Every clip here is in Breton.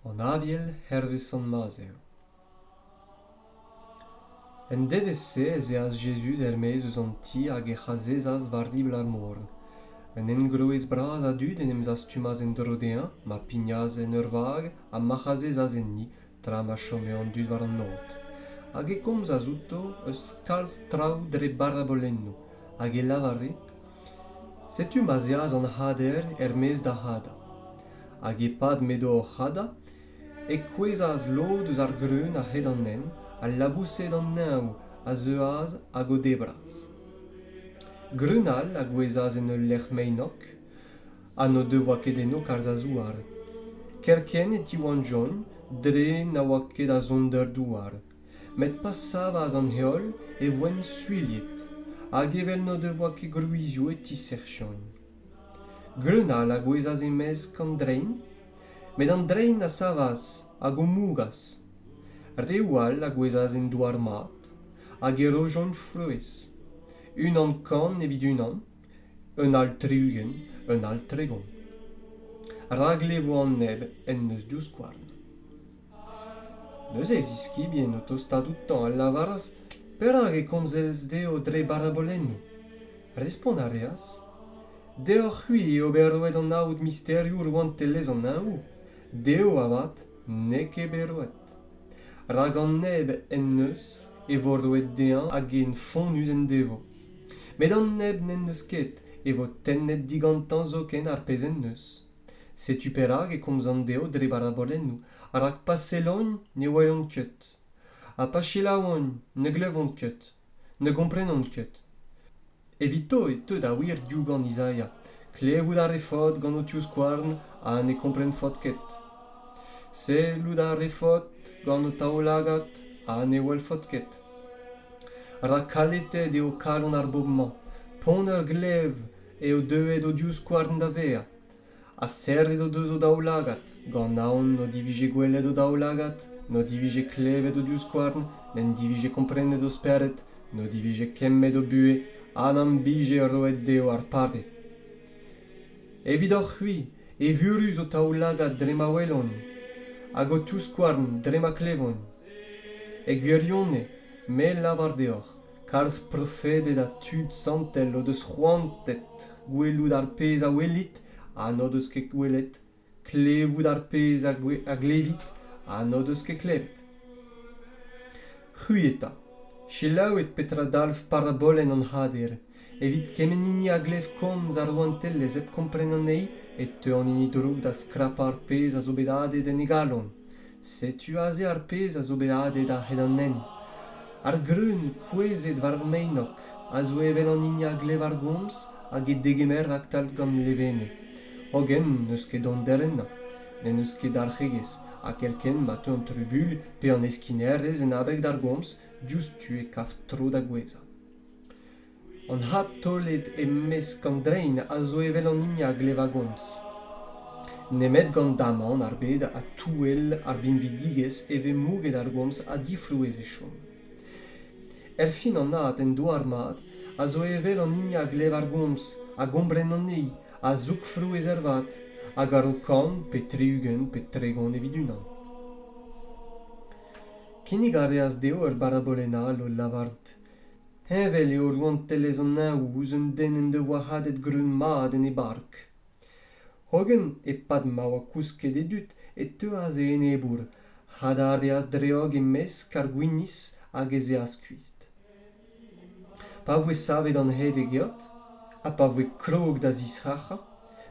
an aviel hervez sant-maz eo en devezh-se ez eas jezuz er-maez eus an ti hag ec'h azezas war ribl ar mor un engroez bras a dud en em zastumas en-dro dezhañ ma pignas en ur vag ha mac'h azezas enni tra ma chome an dud war an aod hag e komzas outo eus kalz traoù dre barabolennoù hag e lavare setu ma'z eas an c'hader er-maez da hadañ hag e-pad m'edo oc'h hadañ e kouezhas lod eus ar greun a-hed an hent al laboused an neñv a zeuas hag o debras greun all a gouezhas en ul lec'h meinok ha n'o devoa ket eno kalz a zouar. Kerkent e tiwalljont dre na oa ket da zont d'ur douar. Met pa savas an heol e voent suilhet, hag evel n'o devoa ket gwrizioù e tisec'hjont. Greun all a gouezhas e-mesk an drein, met an drein a savas hag o mougas. Reoù all a gouezhas en douar mat, hag e rojont frouezh, unan kan evit unan, un all tri-ugent un all tregont rak levo an neb en deus divskouarn neuze e ziskibien o tostaat outañ a lavaras perak e komzez dezho dre barabolennoù respont a reas deoc'h-c'hwi eo bet roet anaout misterioù rouantelezh an neñvoù dezho avat n'eo ket bet roet rak an neb en deus e vo roet dezhañ hag int fonnus en devo met an neb n'en deus ket e vo tennet digantañ zoken ar pezh en deus setu perak e komzan dezho dre barabolennoù rak pa sellont ne welont ket ha pa selaouont ne glevont ket ne gomprenont ket evito e teu da wir diougan Izaia klevout a refot gant ho tivskouarn ha ne komprenfot ket sellout a refot gant ho taoulagad ha ne welfot ket rak kalitet eo kalon ar bobl-mañ pont ur glev eo deuet o divskouarn da vezañ ha serret o deus o daoulagad gant aon n'o divije gwelet o daoulagad n'o divije klevet o divskouarn n'en divije komprenet o spered n'o divije kemmet o buhez ha n'am bije roet dezho ar pare Evidoc'h-c'hwi, evurus ho taoulagad dre ma welont, hag ho touskouarn dre ma klevont. E gwirionez, me lavar deoc'h, kalz profeded ha tud santel o deus c'hoantet gwelout ar pezh a welit ha n'o deus ket gwelet, klevout ar pezh a glevit ha n'o deus ket klevet. C'hwi eta, selaouit petra dalv parabolenn an C'hader, Evit kement hini a glev komz ar rouantelezh hep kompren anezhi e teu an hini drouk da skrapañ ar pezh a zo bet adet en e galon. Setu aze ar pezh a zo bet adet a-hed an nenv. Ar greun kouezhet war ar meinog a zo evel an hini a glev ar gomz hag e degemer raktal gant levenez. Hogen n'eus ket donder ennañ. N'en deus ket dalc'hegezh, ha kerkent ma teu an trubul pe an heskinerezh en abeg d'ar gomz, diouzhtu e kav tro da gouezhañ. An adtaolet e-mesk an drein a zo evel an hini a glev a-gomz. Nemet gant damant ar bed ha touell ar binvidigezh e vez mouget ar gomz ha difrouezh e chom. Erfin an ad en douar-mat a zo evel an hini a glev ar gomz, a gompren anezhi, a zoug frouezh ervat, a garo kant pe tri-ugent pe tregont evit unan. Kinnig a reas dezho ur barabolenn all o lavarout Heñvel eo rouantelezh an Neñv ouzh un den en devoa hadet greun-mat en e bark. Hogen, e-pad ma oa kousket e dud, e teuas e enebour, had a reas dreog e-mesk ar gwinizh hag ez eas kuit. Pa voe savet an hed e geot, ha pa voe krog da zisrac'hañ,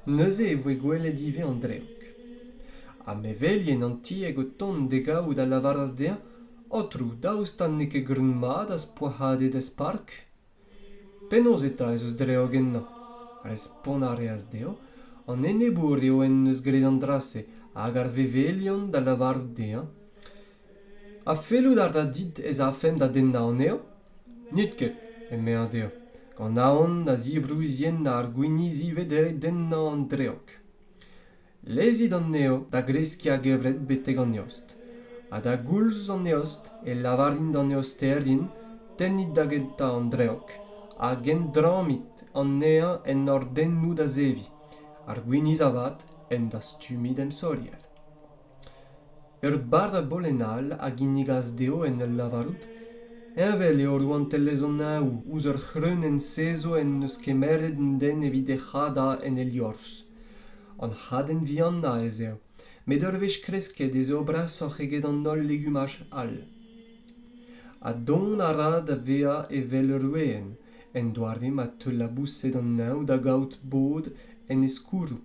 neuze e voe gwelet ivez an dreog ha mevelien an tieg o tont d'e gaout a lavaras dezhañ aotrou daoust ha n'eo ket greun-mat az poazhadet ez park penaos eta ez eus dreog ennañ respont a reas dezhañ an enebour eo en deus graet an dra-se hag ar vevelion da lavarout dezhañ Ha fellout a ra dit ez afemp da dennañ anezho? N'it ket, emezañ dezhañ, gant aon da zivrouzienn ar gwiniz ivez dre dennañ an dreog. Lezit anezho da greskiñ a-gevret betek an eost, ha da goulz an eost e lavarin d'an eosterien tennit da gentañ an dreog hag endrammit anezhañ en hordennoù da zeviñ, ar gwiniz avat en dastumiñ d'em saolier. Ur barr-a-bolenn all a ginnigas dezho en ul lavarout heñvel eo rouantelezh an Neñv ouzh ur c'hreunenn sezo en deus kemeret an den evit e c'hadañ en e liorzh. An hadenn vihanañ ez eo, met ur wech kresket ez eo brasoc'h eget an holl legumaj all. Ha dont a ra da vezañ evel ur weenn, en doare ma teu laboused an Neñv da gaout bod en e skourroù.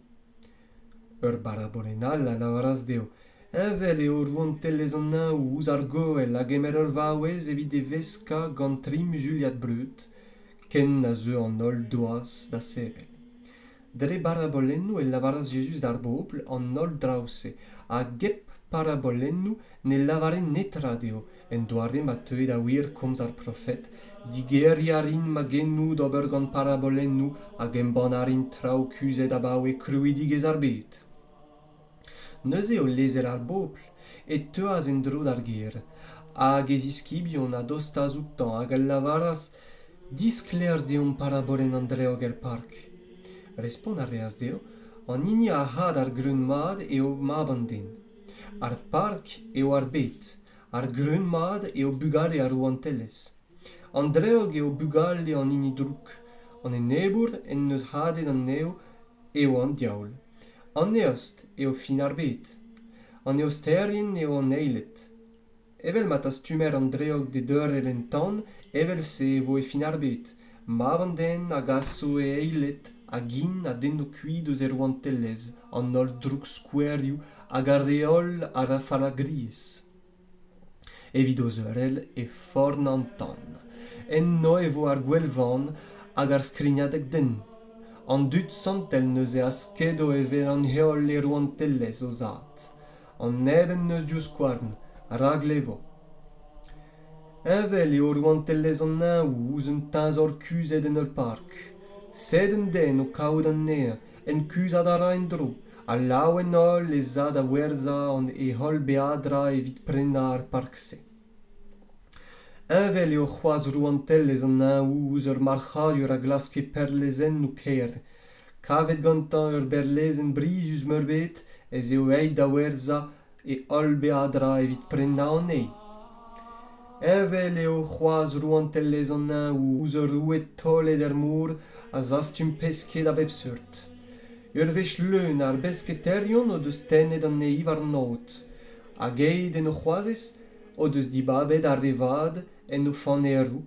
ur barabolenn all a lavaras dezho heñvel eo rouantelezh an Ao. ouzh ar goell a gemer ur vaouez evit e veskañ gant tri muzuliad breud ken a zeu an holl doaz da sevel dre barabolennoù e lavaras Jezuz d'ar bobl an holl draoù-se hag hep parabolennoù ne lavaren netra dezho en doare ma teue da wir komz ar profed digeriñ a rin magennoù d'ober gant parabolennoù hag embann a rin traoù kuzhet abaoe krouidigezh ar bed neuze o lezel ar bobl e teuas en-dro d'ar gêr hag e ziskibion a dostas outañ hag a lavaras disklaer deomp parabolenn an dreoger park respont a reas dezho an hini a c'had ar greun mat eo mab an den ar park eo ar bed ar grun-mat eo bugale ar rouantelezh an dreug eo bugale an hini drouk an enebour en deus hadet an nev eo an diaoul an eost eo fin ar bed an eosterien eo an eiled evel ma tastumer an dreog d'e deurel en tan evel-se e vo e fin ar bed mab an den a gaso e eiled a gin a denno kuit eus e rouantelezh an holl droukskouerioù hag ar re holl a ra fallagriezh evit o zeurel e forn an tan enno e vo ar gwelvan hag ar skrignadeg den an dud santel neuze a skedo e vezañ heol e rouantelezh o zad an neb en deus divskouarn rak levo. Heñvel eo rouantelezh an Neñvoù ouzh un teñzor kuzhet en ur park. Sed un den o kaout anezhañ en kuzhat a ra en-dro ha lav en holl ez a da werzhañ e holl beadra evit prenañ ar park-se. Heñvel eo c'hoazh rouantelezh an Neñvoù ouzh ur marc'hadur a glaske perlezennoù kêr kavet gantañ ur berlezenn brizus-meurbet ez eo aet da werzhañ e holl beadra evit prenañ anezhi. Heñvel eo c'hoazh rouantelezh an Neñv ouzh ur roue taolet er mor a zastum pesked a bep seurt. Ur wech leun ar besketaerion o deus tennet anezhi warn aod, hag aet en o c'hoazez o deus dibabet ar re vat en o faneroù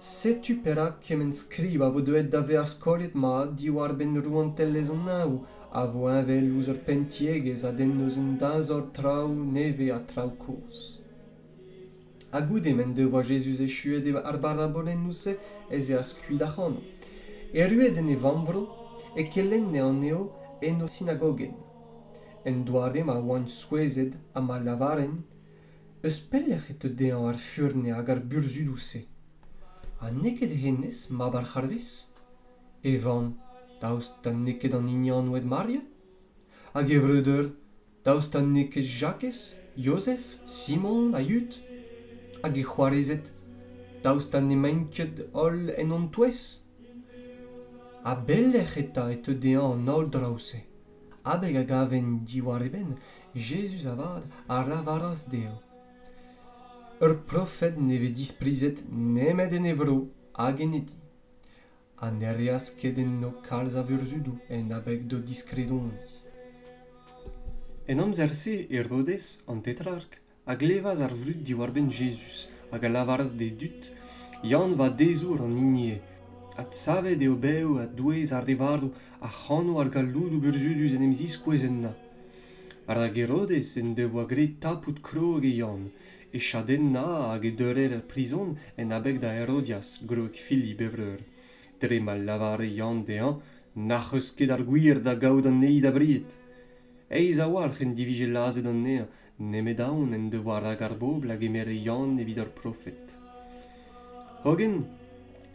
setu perak kement skrivañ a vo deuet da vezañ skolet mat diwar-benn rouantelezh an Neñv a vo heñvel ouzh ur penntiegezh a denn eus un dazor traoù nevez ha traoù kozh. Ha goude m'en devoa Jezuz echuet ar barabolennoù-se ez eas kuit ac'hano. Erruet en e vammvro, e kelenne anezho en o sinagogenn. En doare ma oant souezhet ha ma lavarent eus pelec'h e teu dezhañ ar furn hag ar burzhudoù-se? Ha n'eo ket hennezh mab ar c'harvez? E vamm, daoust ha n'eo ket an hini anvet Maria? Hag e vreudeur, daoust ha n'eo ket Jakez, Yozef, Simon ha Yud? Hag e c'hoarezed, daoust ha n'emaint ket holl en hon touez? A belec'h eta e teu dezhañ an holl draoù-se? abeg a gaven diwar e benn Jezuz avat a lavaras dezhañ ur profed ne vez disprizet nemet en e vro hag en e di ha ne reas ket enno kalz a vurzhudoù en abeg d'o diskredoni En amzer-se Herodez an Tetrark a glevas ar vrud diwar-benn Jezuz hag a lavaras d'e dud, Yann vadezour an hiniezh. Adsavet eo bev a-douez ar re varv ac'hano ar galloudoù burzhudus en em ziskouez ennañ. Rak Herodez en devoa graet tapout krog e Yann, e chadennañ hag e deurer er prizon en abeg da Herodias, gwreg Filip e vreur. Dre ma lavare Yann dezhañ n'ac'h eus ket ar gwir da gaout anezhi da bried. Aes a-walc'h en divije lazhet anezhañ nemet aon en devoa rak ar bobl a gemere Yann evit ur profed. Hogen,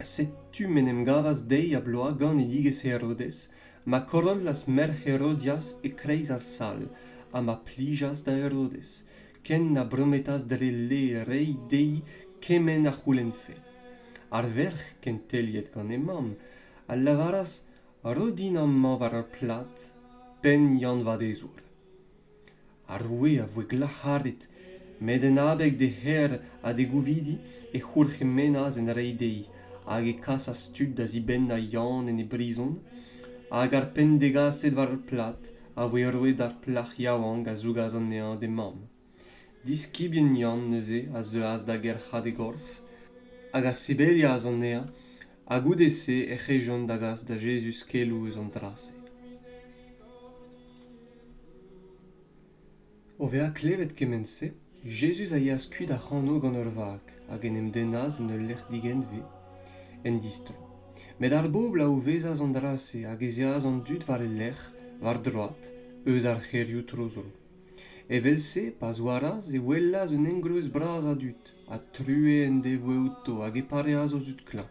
setu m'en em gavas deiz ha bloaz ganidigezh Herodez, ma korollas merc'h Herodias e-kreiz ar sal, ha ma plijas da Herodez, ken na brometas dre le reiñ dezhi kement a c'houlennfe. Ar verc'h, kenteliet gant he mamm, a lavaras Ro din amañ war ur plad penn Yann Vadezour. Ar roue a voe glac'haret, met en abeg d'e c'her ha d'e gouvidi e c'hourc'hemennas en reiñ dezhi, hag e kasas tud da zibennañ Yann en e brizon, hag ar penn degaset war ar plad a voe roet d'ar plac'h yaouank a zougas anezhañ d'he mamm. Diskibien Yann neuze a zeuas da gerc'hat e gorf hag a sebelias anezhañ, ha goude-se ec'h ejont da gas da Jezuz keloù eus an dra-se. O vezañ klevet kement-se, Jezuz a yeas kuit ac'hano gant ur vag hag en em dennas en ul lec'h digenve, en distro. Met ar bobl a ouvezas an dra-se hag ez eas an dud war e lerc'h, war droad, eus ar c'hêrioù tro-dro. Evel-se, pa zouaras, e welas un engroez bras a dud, ha true en devoe outo hag e pareas o zud klañv.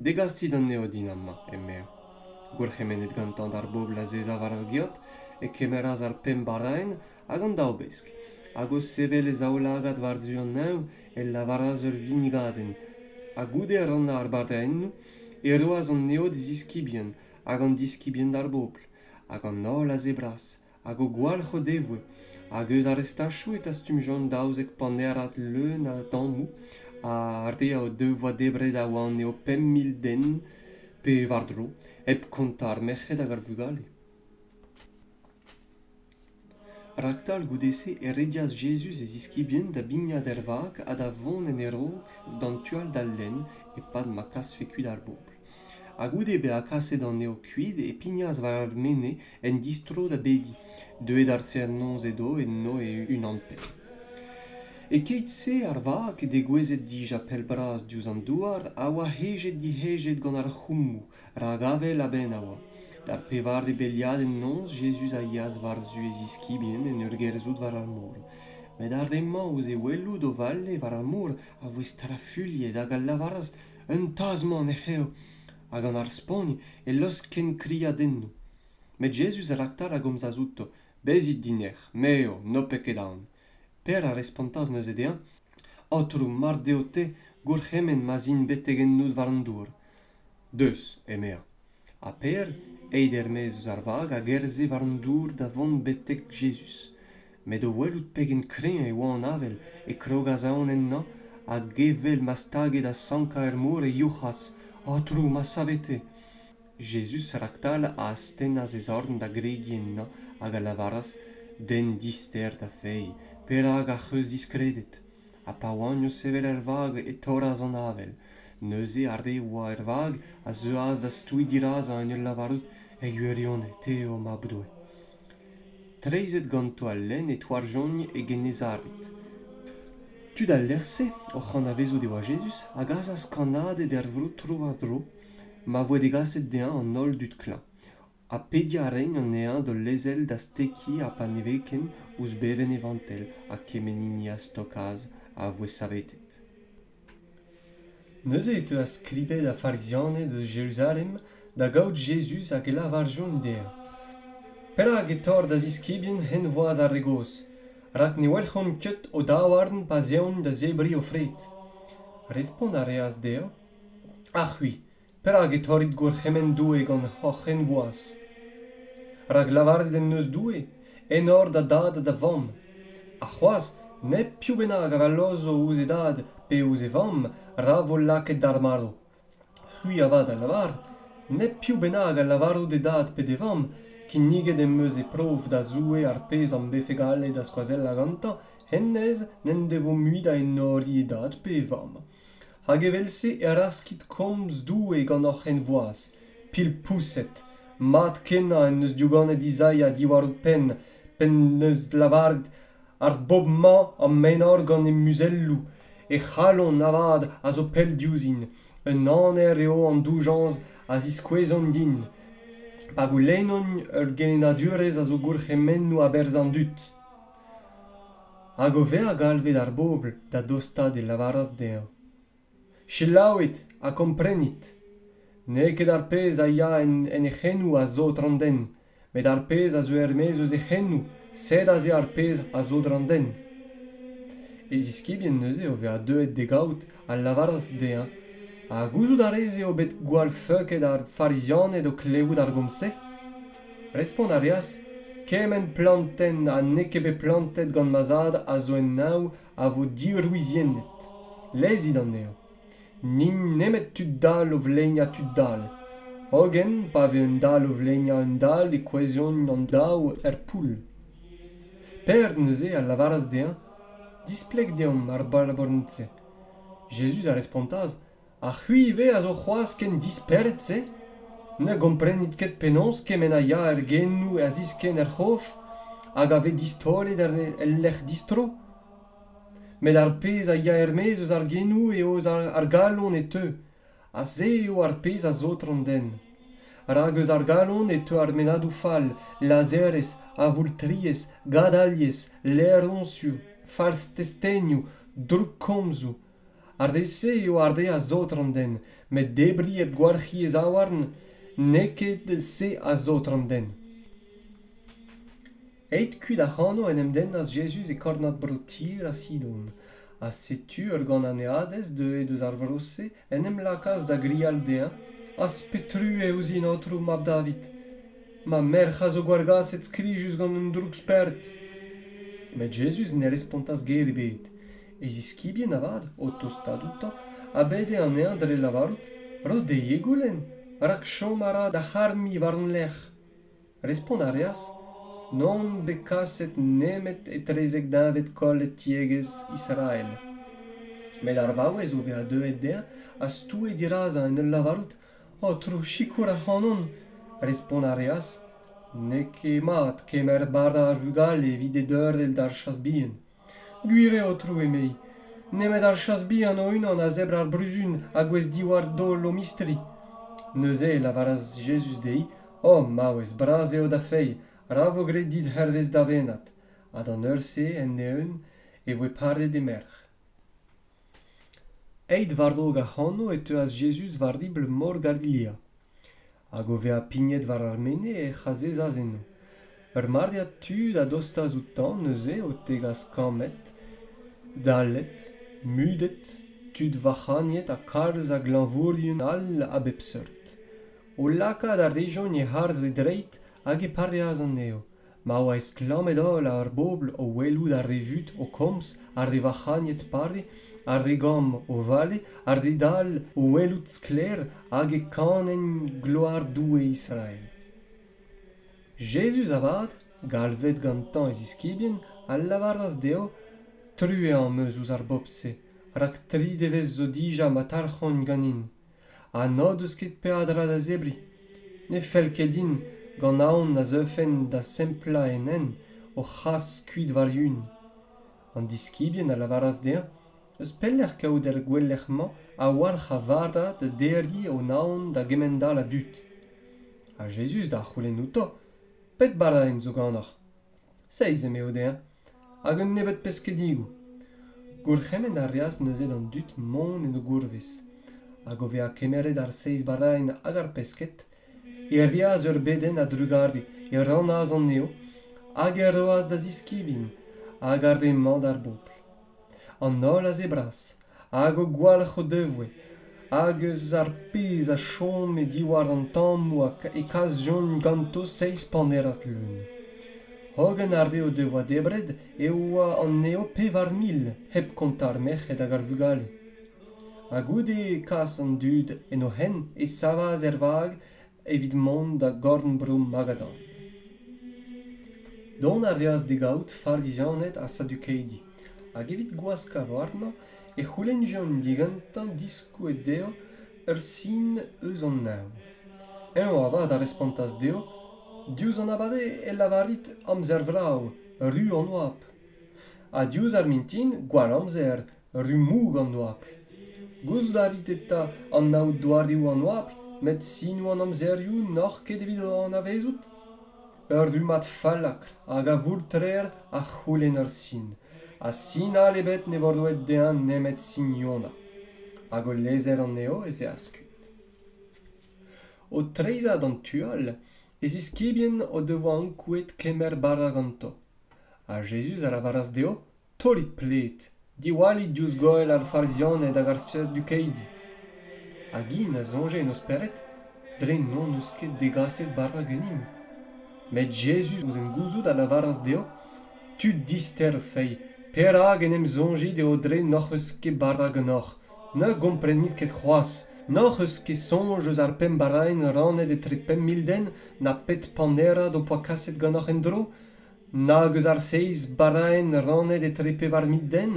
Degasit anezho din amañ, emezañ. Gourc'hemennet gantañ d'ar bobl azezañ war ar geot, e kemeras ar pemp baraenn hag an daou besk, hag o sevel e zaoulagad war-zu an neñv, e lavaras ur vinnigadenn, ha goude rannañ ar baraennoù, e roas anezho d'e ziskibien hag an diskibien d'ar bobl, hag an holl a zebras, hag o gwalc'h o devoe hag eus ar restachoù e tastumjont daouzek panerad leun a dammoù ar re o devoa debret a oa anezho pemp mil den pe war-dro hep kontañ ar merc'hed hag ar vugale raktal goude-se e redias jezuz e ziskibien da bignat er vag ha da vont en e raok d'an tu all d'al lenn e-pad ma kasfe kuit ar bobl ha goude bezañ kaset anezho kuit e pignas war ar mene En distro da bediñ, deuet ar serr-noz edo eno e-unan-penn. E-keit-se ar vag, degouezhet dija pell-bras diouzh an douar, a oa hejet-dihejet gant ar c'hoummoù, rak avel a-benn a oa. Da pevare beliadenn noz, Jezuz a yeas war-zu e ziskibien en ur gerzhout war ar mor. Met ar re-mañ ouzh e welout o vale war ar mor a voe strafuilhet hag a lavaras, Un tazh-mañ ne c'hev. ha gant ar spagn e laosk kenkriadennoù met Jezuz a laktar a gomzas outo bezit dinec'h me eo n'ho pet ket aon Per a respontas neuze dezhañ Aotrou mar deo te gourc'hemenn ma'z in betek ennout war an dour deus emezañ ha Per aet er-maez eus ar vag a gerzhe war an dour da vont betek Jezuz met o welout pegen kreñv e oa an avel e krogas aon ennañ hag evel ma stage da sankañ er mor e youc'has aotrou ma savete jezuz raktal a astennas e zorn da gregiñ ennañ hag a lavaras den dister da fae perak ac'h eus diskredet ha pa oagno sevel er vag e torras an avel neuze ar re a oa er vag a zeuas da stouiñ dirazañ en ul lavarout e gwirionez te eo mab doue Treizhet ganto al lenn e touarjont e Gennezared. Tud al lec'h-se, oc'h anavezout e oa Jezuz, a gasas kannaded er vro tro-war-dro ma voe degaset dezhañ an holl dud klañv, ha pediañ a raent anezhañ d'ul lezel da stekiñ ha paneveken ouzh bevenn e vantell ha kement hini a stokas a voe savetet. Neuze e teuas Klibed ar Farizianed eus Jeruzalem da gaout Jezuz hag e lavarjont dezhañ, Perak e torr da ziskibien henvoaz ar re gozh, rak ne welc'hont ket o daouarn pa 'z eont da zebriñ o fred? Respont a reas dezhañ, Ha c'hwi, Perak e torrit gourc'hemenn Doue gant hoc'h henvoaz? Rak lavaret en deus Doue enor da dad ha da vamm, ha c'hoazh nep piv bennak a vallozo ouzh e dad pe ouzh e vamm ra vo lakaet d'ar marv. C'hwi avat a lavar nep piv bennak a lavaro d'e dad pe d'e vamm kinniget em eus e prof da Zoue ar pezh am befe gallet da skoazellañ gantañ hennezh n'en devo mui da enoriñ e dad pe e vamm. hag evel-se e raskit komz Doue gant hoc'h henvoaz pilpoused mat-kenañ en deus diouganet Izaia diwar ho penn p'en deus lavaret ar bobl-mañ am enor-gant he muzelloù he c'halon avat a zo pell diouzhin un aner eo an doujañs a ziskouezont din pa goulennont ur gelennadurezh a zo gourc'hemennoù a-berzh an dud hag o vezañ galvet ar bobl da dostaat e lavaras dezhañ selaouit ha komprenit n'eo ket ar pezh a ya en he c'henoù a zod an den met ar pezh a zo er-maez eus he c'henoù sed aze ar pezh a zod an den e ziskibien neuze o vezañ deuet d'e gaout a lavaras dezhañ ha gouzout a rez eo bet gwall feuket ar farizianed o klevout ar gomz-se Respont a reas kement plantenn ha n'eo ket bet plantet gant ma zad a zo en neñv a vo diwriziennet. Lezit anezho. N'int nemet tud dall o vleinañ tud dall. Hogen pa vez un dall o vleinañ un dall e kouezhont an daou er poull. Pêr neuze a lavaras dezhañ displeg deomp ar baraborenn-se. Jezuz a respontas Ha c'hwi ivez a zo c'hoazh ken dispered-se ? Ne gomprenit ket penaos kement a ya er genoù a ziskenn er c'hof hag a vez distaolet el lec'h distro ? Met ar pezh a ya er-maez eus ar genoù eo eus ar galon e teu, ha se eo ar pezh a saotr an den. Rak eus ar galon e teu ar mennadoù fall, lazherezh, avoultriezh, gadaliezh, laeroñsioù, farz testenioù, droukkomzoù. ar re-se eo ar re a saotr an den met debriñ hep gwalc'hiñ e zaouarn n'eo ket se a saotr an den. Aet kuit ac'hano en em dennas Jezuz e kornad bro Tir ha Sidon, ha setu ur gananeadez deuet eus ar vro-se en em lakaas da grial dezhañ: Az petrue ouzhin, Aotrou mab David! Ma merc'h a zo gwallgaset skrijus gant un droug-spert! Met Jezuz ne respontas ger ebet. e ziskibien avat, o tostaat outañ, a bede anezhañ dre lavarout Ro dezhe e goulenn, rak chom a ra da c'harmiñ war-lerc'h. Respont a reas N'on bet kaset nemet etrezek deñved kollet tiegezh Israel. Met ar vaouez o vezañ deuet dezhañ a stoue dirazañ en ul lavarout Aotrou, sikour ac'hanon. Respont a reas N'eo ket mat kemer bara ar vugale evit e deurel d'ar chas bihan. gwir eo aotrou emei nemet ar chas bihan o-unan a zebr ar bruzun a gouez diwar daol o mistri neuze e lavaras jezuz dezhi o maouez bras eo da feiz ra vo graet dit hervez da vennad ha d'an eur-se end-eeun e voe paret he merc'h Aet war-raok ac'hano e teuas Jezuz war ribl mor Galilea. Hag o vezañ pignet war ar mene ec'h azezas eno. Ur maread tud a dostas outañ neuze o tegas kammed, dallet, mudet, tud vac'hagnet ha kalz a glañvourien all a bep seurt. O lakaat a rejont e harz e dreid hag e pareas anezho, ma oa estlammet-holl ar bobl o welout ar re vut o komz, ar re vac'hagnet pare, ar re gamm o vale, ar re dall o welout sklaer hag e kanent gloar Doue Israel. Jezuz avat, galvet gantañ e ziskibien, a lavaras dezho, Truez am eus ouzh ar bobl-se, rak tri devezh zo dija ma talc'hont ganin. ha n'o deus ket peadra da zebriñ. Ne fell ket din gant aon na zeufen da semplañ en hent o c'has kuit war-yun. An diskibien a lavaras dezhañ eus pelec'h kaout ar gouelec'h-mañ a-walc'h a vardad da derriñ o naon da gemend-all a dud. Ha Jezuz da c'houlenn outo, pet baradenn zo ganoc'h ? Seizh eme Odair, hag un nebeud peskedigoù. Gourc'hemenn a reas neuze d'an dud mont en o gourvez, hag o vezañ kemeret ar seizh baraenn hag ar pesked, e reas ur bedenn a-drugarez, e rannas anezho, hag e roas da ziskibien, hag ar re-mañ d'ar bobl. an holl aze bras hag o gwalc'h o devoe hag eus ar pezh a chome diwar an tammoù e kasjont ganto seizh panerad leun hogen ar re o devoa debret e oa anezho pevar mil hep kontañ ar merc'hed hag ar vugale ha goude kas an dud en o hent e savas er vag evit mont da gorn-bro Magadan. Dont a reas d'e gaout farizianed ha sadukaidi, hag evit gwaskañ warnañ e c'houlennjont digantañ diskouez dezho ur sin eus an neñv. Eñ avat a respontas dezho, Diouzh an abade e lavarit amzer vrav, ru an oabl. Ha diouzh ar mintin, gwall amzer, rummoù gant oabl gouzout a rit eta anaout doareoù an oabl met sinoù an amzerioù n'oc'h ket evit o anavezout ur rummad fallakr hag a voultrer a c'houlenn ur sin ha sin all ebet ne vo roet dezhañ nemet signonañ hag o lezer anezho ez eo askuit o treizhañ d'an tu all e ziskibien o devoa ankouaet kemer bara ganto ha jezuz a lavaras dezho Taolit pled, diwallit diouzh goell ar Farizaned hag ar Sadukaidi. Hag int a soñje en o spered dre n'hon eus ket degaset bara ganimp. Met Jezuz, ouzh en gouzout, a lavaras dezho, Tud dister o feiz, perak en em soñjit eo dre n'hoc'h eus ket bara ganeoc'h? Ne gomprenit ket c'hoazh. N'hoc'h eus ket soñj eus ar pemp baraenn rannet etre pemp mil den, na pet panerad ho poa kaset ganeoc'h en-dro? nag eus ar seiz baraenn rannet etre pevar mil den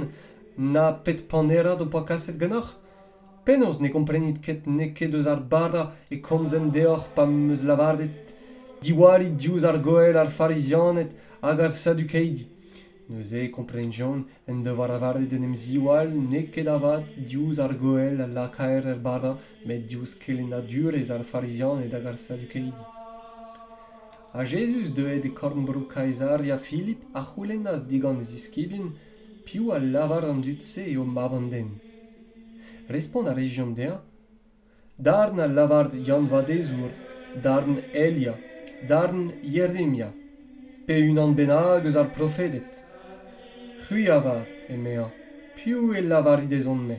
na pet panerad ho poa kaset ganeoc'h penaos ne gomprenit ket n'eo ket eus ar bara e komzen deoc'h pa 'm eus lavaret diwallit diouzh ar goell ar farizianed hag ar sadukeidi neuze e komprenjont en devoa lavaret d'en em ziwall n'eo ket avat diouzh ar goell a lakaer er bara met diouzh kelennadurezh ar farizianed hag ar sadukeidi Ha Jezuz, deuet e korn-bro Kaisaria Filip, a c'houlennas digant e ziskibien, Piv a lavar an dud-se eo Mab an den? Respont a rejont dezhañ, Darn a lavar Yann-Vadezour, darn Elia, darn Jeremia, pe unan bennak eus ar profeded. C'hwi avar, emezañ, piv e lavarit ezhomm-me?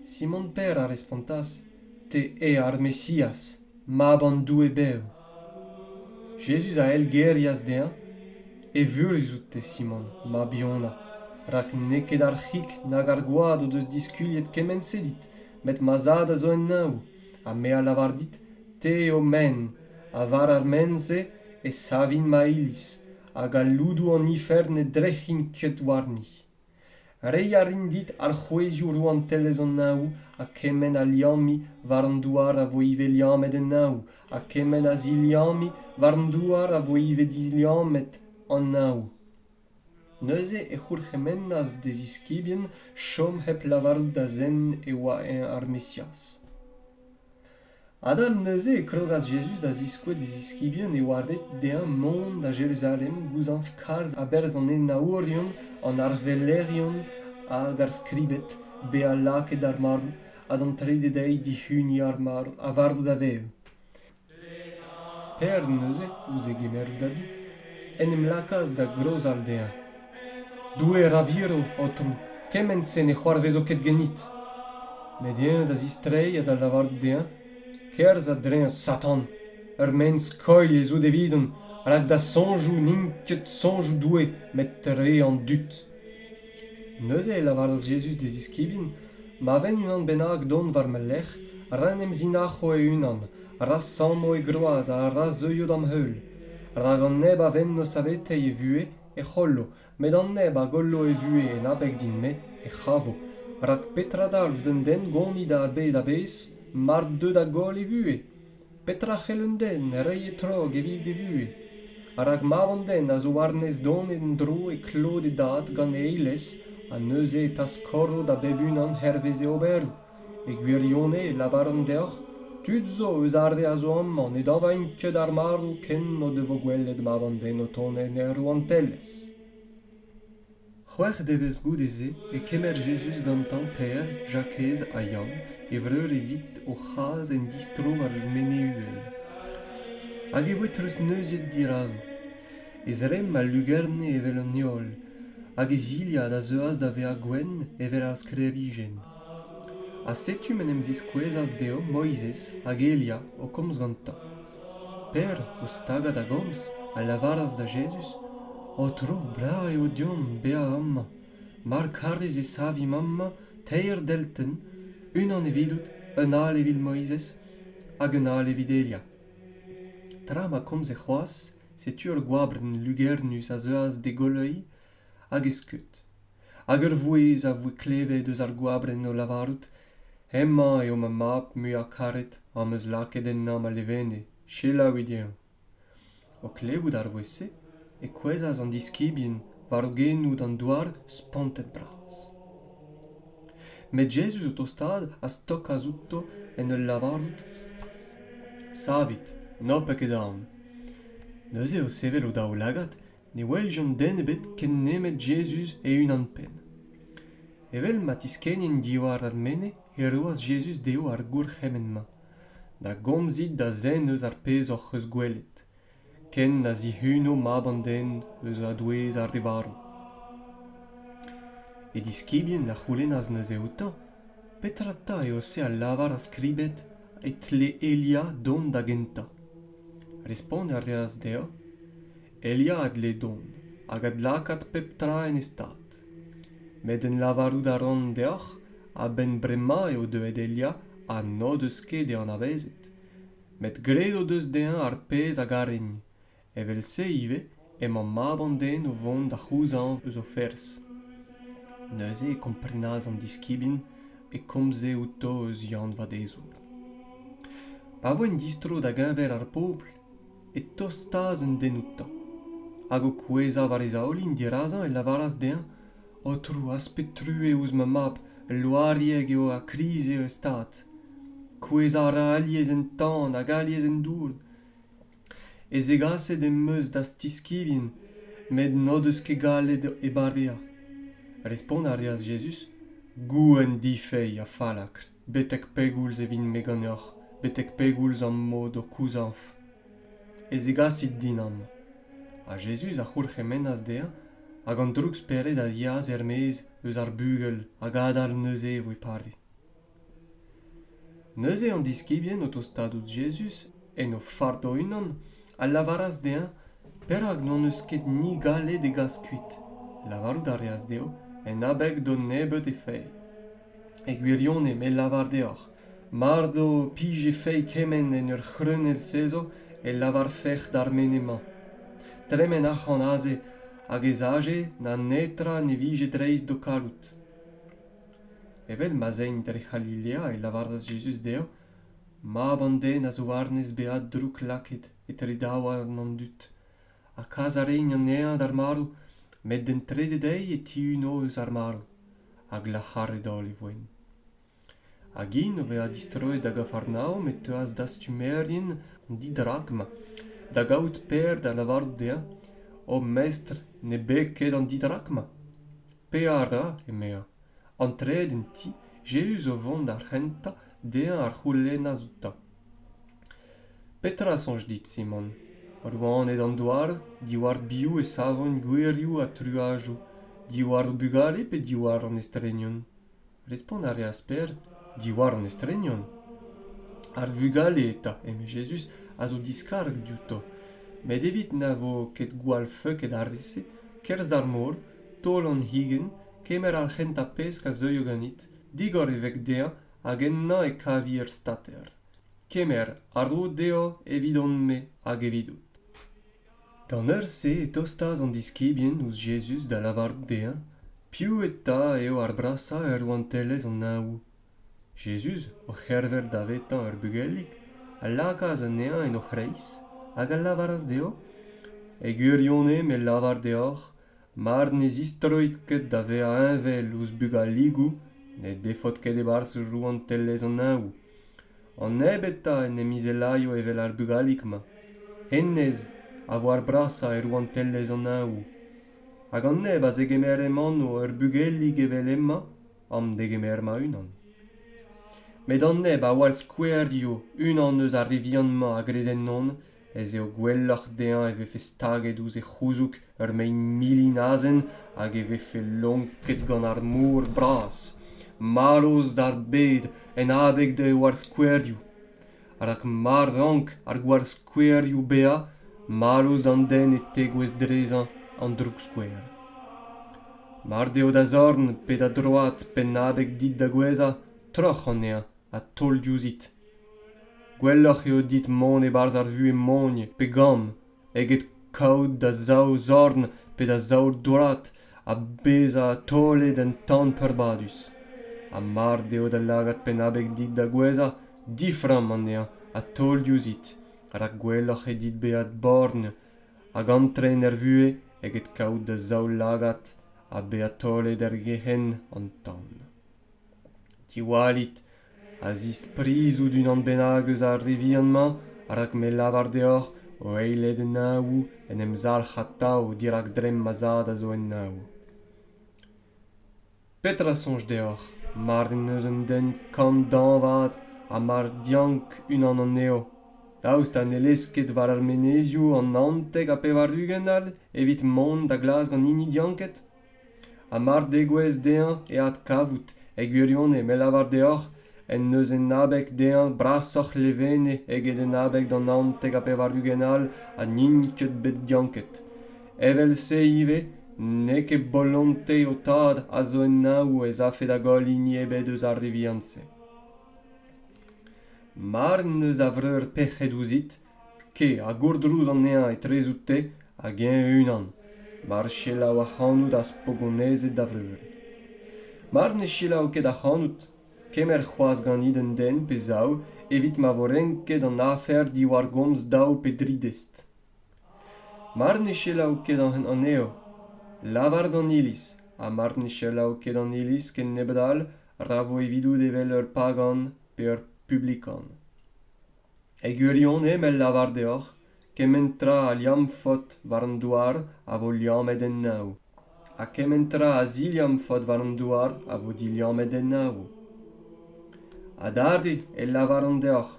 Simon Per a respontas, Te eo ar Mesiaz. Mab an Doue bev. Jezuz a eilgerias dezhañ Evurus out te, Simon, mab-Yona, rak n'eo ket ar c'hig nag ar gwad o deus diskuliet kement-se dit, met ma Zad a zo en neñv, ha me a lavar dit, te eo men, ha war ar men-se e savin ma Iliz, hag al loudoù an ifern ne drec'hin ket warni. Reiñ a rin dit alc'hwezioù rouantelezh an Neñv ha kement a liammiñ war an douar a vo ivez liammet en Neñv ha kement a ziliammiñ war an douar a vo ivez diliammet an Neñv. Neuze e c'hourc'hemennas d'e ziskibien chom hep lavarout da zen e oa eñ ar Mesiaz. Adal neuze e klogas Jezuz da ziskouez d'e ziskibien e oarded dezhañ mont da Jeruzalem gouzañv kalz a-berzh an henaourion, an arvellerion hag ar skribed bezañ lakaet d'ar marv ha d'an trede deiz dihuniñ ar marv ha varv da vev. P'er neuze, ouzh e gemerout a-du, en em lakaas da grozal dezhañ. Doue ra viro, Aotrou, kement-se ne c'hoarvezo ket ganit. Met eñ da zistreiñ ha da lavarout dezhañ kerzh a-dreñv Satan. Ur maen-skoilh ez out evidon, rak da soñjoù n'int ket soñjoù Doue, met re an dud. Neuze e lavaras Jezuz d'e ziskibien ma ven unan bennak dont war ma lerc'h, ra 'n em zinac'ho e-unan, ra sammo e groaz ha ra zeuio d'am heul, rak an neb a venno saveteiñ e vuhez, e c'hollo met an neb a gollo e vuhez en abeg din-me e c'havo rak petra dalv d'un den gonit a bed a-bezh mar deu da goll e vuhez petra c'hell un den reiñ e-trog evit e vuhez rak mab an den a zo war-nes donet en-dro e klot e dad gant e eilez ha neuze e taskoro da bep unan hervez e oberoù E gwirionez e lavaran deoc'h tud zo eus ar re a zo amañ ne dañvaint ket ar marv ken o devo gwelet ma vandenn o tont en hir rouantelezh. C'hwec'h devezh goude-se e kemer Jezuz gantañ Pêr, Jakez ha Yann e vreur evit o c'has en distro war ur mene-uhel. Hag e voe treuzneuzet dirazo. E zremm a lugerne evel an heol, hag e zilhad a zeuas da vezañ gwenn evel ar sklêrijenn. Ha setu m'en em ziskouezas dezho Moizez hag Elia o komz gantañ. Pêr, ouzh tagañ da gomz, a lavaras da Jezuz, Aotrou, brav eo deomp bezañ amañ, mar karez e savimp amañ teir deltenn, unan evidout, un all evit Moizez hag un all evit Elia. Tra ma komze c'hoazh, setu ur gwabrenn lugernus a zeuas d'e goleuiñ hag e skeud. hag ur vouezh a voe klevet eus ar goabrenn o lavarout hemañ eo ma mab muiañ karet am eus lakaet ennañ ma levenne selaouit eñ o klevout ar vouezh-se e kouezhas an diskibien war o genoù d'an douar spontet-bras met jezuz o tostaat a stokas outo en ul lavarout savit n'ho pez ket aon neuze o sevel o daoulagad ne weljont den ebet ken nemet Jezuz e-unan-penn. Evel ma tiskennin diwar ar mene, e roas Jezuz dezho ar gourc'hemenn-mañ da gomzit da zen eus ar pezh hoc'h eus gwelet, ken na zihuno Mab an den eus a-douez ar re varv. E diskibien a c'houlennas neuze outañ, Petra 'ta eo se a lavar ar skribed e tle Elia dont da gentañ? Respont a reas dezhañ, Elia a dle dont hag adlakaat pep tra en e stad. Met en lavarout a ran deoc'h, a-benn bremañ eo deuet Elia ha n'o deus ket e anavezet. Met graet o deus dezhañ ar pezh a garegn. Evel-se ivez emañ mab an den o vont da c'houzañv eus o ferzh. Neuze e komprenas an diskibien e komze outo eus Yann Vadezour. Pa voent distro da geñver ar pobl e tostaas un den outañ hag o kouezhañ war e zaoulin dirazañ e lavaras dezhañ aotrou aspet true ouzh ma mab el loarieg eo ha kriz eo e stad kouezhañ a ra alies en tan hag alies en dour e zegaset em eus d'az tiskibien met n'o deus ket gallet e bareañ respont a reas Jezuz gouenn difeilh ha fallakr Betek pegoulz e vin-me ganeoc'h betek pegoulz am bo d'ho kouzañv e zegasit dinam? Ha Jezuz a c'houlc'hemennas dezhañ hag an droug-spered a yeas er-maez eus ar bugel hag adal neuze e voe pare. Neuze an diskibien o tostaat ouzh Jezuz en o fard o-unan a lavaras dezhañ perak n'hon eus ket ni gallet e gas kuit. Lavarout a reas dezho en abeg d'o nebeut e fae. E gwirionez me 'lavar deoc'h, mard ho pije fae kement en ur c'hreunell sezo e lavarfec'h d'ar mene-mañ. Tremen arc'hant aze hag ez aje na netra ne vije dreist d'ho karout. Evel ma'z aimp dre C'halilea e lavaras Jezuz dezhañ, Mab an Den a zo warnez bezañ drouk-lakaet etre daouarn an dud, ha kas a raint an neñv d'ar marv met d'an trede deiz e tihunno eus ar marv ha glac'haret-holl e voent. Hag int o vezañ distroet da Gafarnaom e teuas dastumerien an didrac-mañ da gaout Per da lavarout dezhañ O mestr, ne beg ket an didrac-mañ. Pevar dra, emezañ. Antreet en ti, Jezuz o vont d'ar c'hentañ dezhañ a c'houlennas outañ. Petra a soñj dit, Simon? Rouaned an douar, diwar biv e savont gouerioù ha truajoù, diwar o bugale pe diwar an estrenion? Respont a reas Pêr, diwar an estrenion. Ar vugale eta, eme Jezuz, a zo diskarg diouto. Met evit na vo ket gwall feuket ar re-se, kerzh d'ar mor, taol an higenn, kemer ar c'hentañ pesk a zeuio ganit, digor e veg dezhañ hag ennañ e kavi ur stater kemer a ro dezhañ evidon-me hag evidout d'an eur-se e tostas an diskibien ouzh Jezuz da lavarout dezhañ piv eta eo ar brasañ er rouantelezh an Neñvoù. Jezuz, o c'herver davetañ ur bugelig, a lakaas anezhañ en o c'hreiz hag a lavaras dezhañ e gwirionez me 'lavar deoc'h Mar ne zistroit ket da vezañ heñvel ouzh bugaligoù ne defot ket e-barzh rouantelezh an Neñvoù. An nebeutañ en em izelaio evel ar bugalig-mañ. Hennezh a vo ar brasañ e rouantelezh an Neñvoù. Hag an neb a zegemer hec'h anv ur bugelig evel hemañ, am degemer ma-unan. Met an neb a oar skouer eo unan eus ar re vihan-mañ a gred ennon, ez eo gwelloc'h dezhañ e vefe staget ouzh e c'houzoug ur mein milin azen hag e vefe lonket gant ar mor bras marv d'ar bed en abeg d'e warzh-skouerioù rak ma rank ar gwarzh-skouerioù bezañ marv d'an den e tegouezh drezañ an droukskouer mar deo da zorn pe da droad penn abeg dit da gouezhañ troc'h anezhañ ha taol diouzhit Gwelloc'h eo dit mont e-barzh ar vuhez mogn pe gamm eget kaout da zaou zorn pe da zaou dourad ha bezañ taolet un tamm peurbadus. Ha mard eo da lagad penn-abeg dit da gouezhañ, diframm anezhañ ha taol diouzhit, rak gwelloc'h eo dit bezañ borgn hag antren er vuhez eget kaout da zaou lagad ha bezañ taolet er gerc'henn an tan. Diwallit a zisprizout unan bennak eus ar re vihan-mañ rak me lavar deoc'h o eilet en naoù en em zalc'h atav dirak dremm ma zad a zo en naoù petra soñj deoc'h mar en deus un den kant dañvad ha mar diank unan anezho daoust ha ne lez ket war ar menezioù an hantek ha pevar-ugent all evit mont da glask an hini dianket ha mar degouezh dezhañ e adkavout e gwirionez me lavar deoc'h en deus en abeg dezhañ brasoc'h levene eget en abeg d'an naontek ha pevar-ugent all ha n'int ket bet dianket evel-se ivez n'eo ket bolonte ho tad a zo en naou ez afe da goll hini ebet eus ar re vihan-se mar n'eus a vreur pec'hed ouzhit Ke a gourdrouz anezhañ etrezout-te hag eñ e-unan, mar selaou ac'hanout az po gonezet da vreur. Mar ne selaou ket ac'hanout, kemer c'hoazh ganit un den pe zaou evit ma vo renket an afer diwar gomz daou pe dri dest. Mar ne selaou ket anezho, lavar d'an iliz, ha mar ne selaou ket an iliz ken nebeut all, ra vo evidout evel ur pagan pe ur publikan. E gwirionez m'el lavar deoc'h, kement tra a liamm faot war an douar a vo liammet en-nav, ha kement tra a ziliamm faot war an douar a vo diliammet en-nav. Adarre el lavaran deoc'h,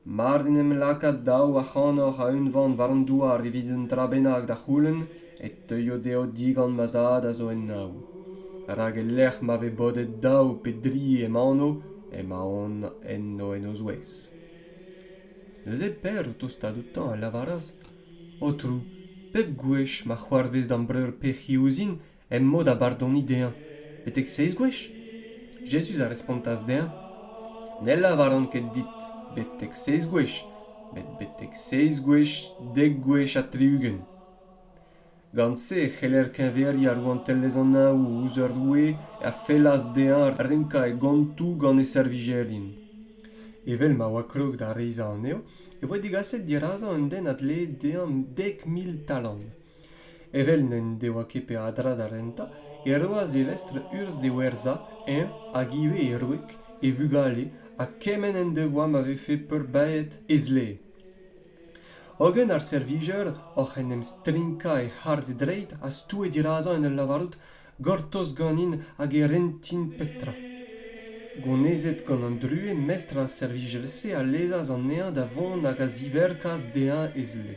mard en em laka daou ac'hanoc'h a-unvan war an douar evit un dra bennak da c'houlenn, e teuio dezho digant ma zad a zo en-nav. Rak e-lec'h ma vez bodet daou pe dri em anv, emaon enno en o zouez. neuze Per, o tostaat outañ, a lavaras Aotrou, pep gwech ma c'hoarvez da'm breur pec'hi ouzhin em mod a bardoni dezhañ betek seiz gwech? Jezuz a respontas dezhañ Ne lavaran ket dit betek seiz gwech met betek seiz gwech, dek gwech ha tri-ugent. Gant-se e c'heller keñveriañ rouantelezh an Ao. ouzh ur roue a fellas dezhañ renkañ e gontoù gant e servijerien. Evel ma oa krog da reizhañ anezho e voe degaset dirazañ un den a dlee dezhañ dek mil talant. Evel n'en devoa ket peadra da rentañ e roas e vestr urzh d'e werzhañ, eñ hag ivez e wreg, e vugale ha kement en devoa ma vefe peurbaeet e zlee. hogen ar servijer oc'h en em strinkañ e harz e dreid a stoue dirazañ en ul lavarout gortoz ganin hag e rentin pep tra gonezet gant an druez mestr ar servijer-se a lezas anezhañ da vont hag a ziverkas dezhañ e zle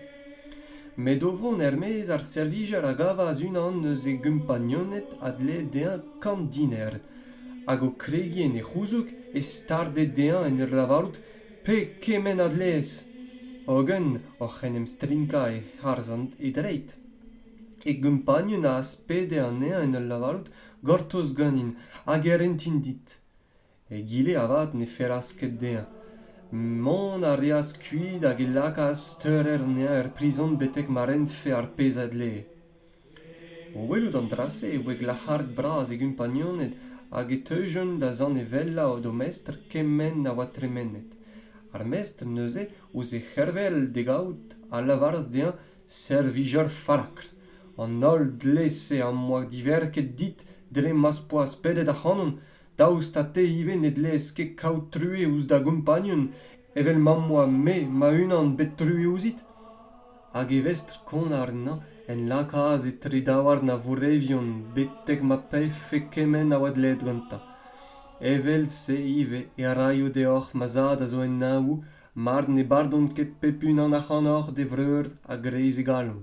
met o vont er-maez ar servijer a gavas unan eus e gompagnoned a dlee dezhañ kant diner hag o kregiñ en e c'houzoug e starde dezhañ en ur lavarout Pe kement a dleez, hogen oc'h en em strinkañ e harzhant e dreid. E gompagnun az pede anezhañ en ul lavarout gortoz ganin hag e rentin dit. Egile avat ne fellas ket dezhañ. Mont a reas kuit hag e lakaas steurer anezhañ er prizon betek ma rentfe ar pezh a dlee. O welout an dra-se e voe glac'haret bras e gompagnuned hag e teujont da zanevellañ o domestr kement a oa tremenet. Ar mestr neuze, ouzh e c'hervel d'e gaout, a lavaras dezhañ servijer fallakr. An holl dle-se am boa diverket dit dre ma'z poas pedet ac'hanon. Daoust ha te ivez ne dleez ket kaout true ouzh da gompagnon evel ma'm boa me ma-unan bet truez ouzhit. Hag e vestr-kont àrnañ en lakaas etre daouarn ar vourrevion betek ma pevfe kement a oa dleet gantañ. Evel-se ivez e raio deoc'h ma zad a zo en neñvoù mar ne bardont ket pep unan ac'hanoc'h d'e vreur a-greiz e galon.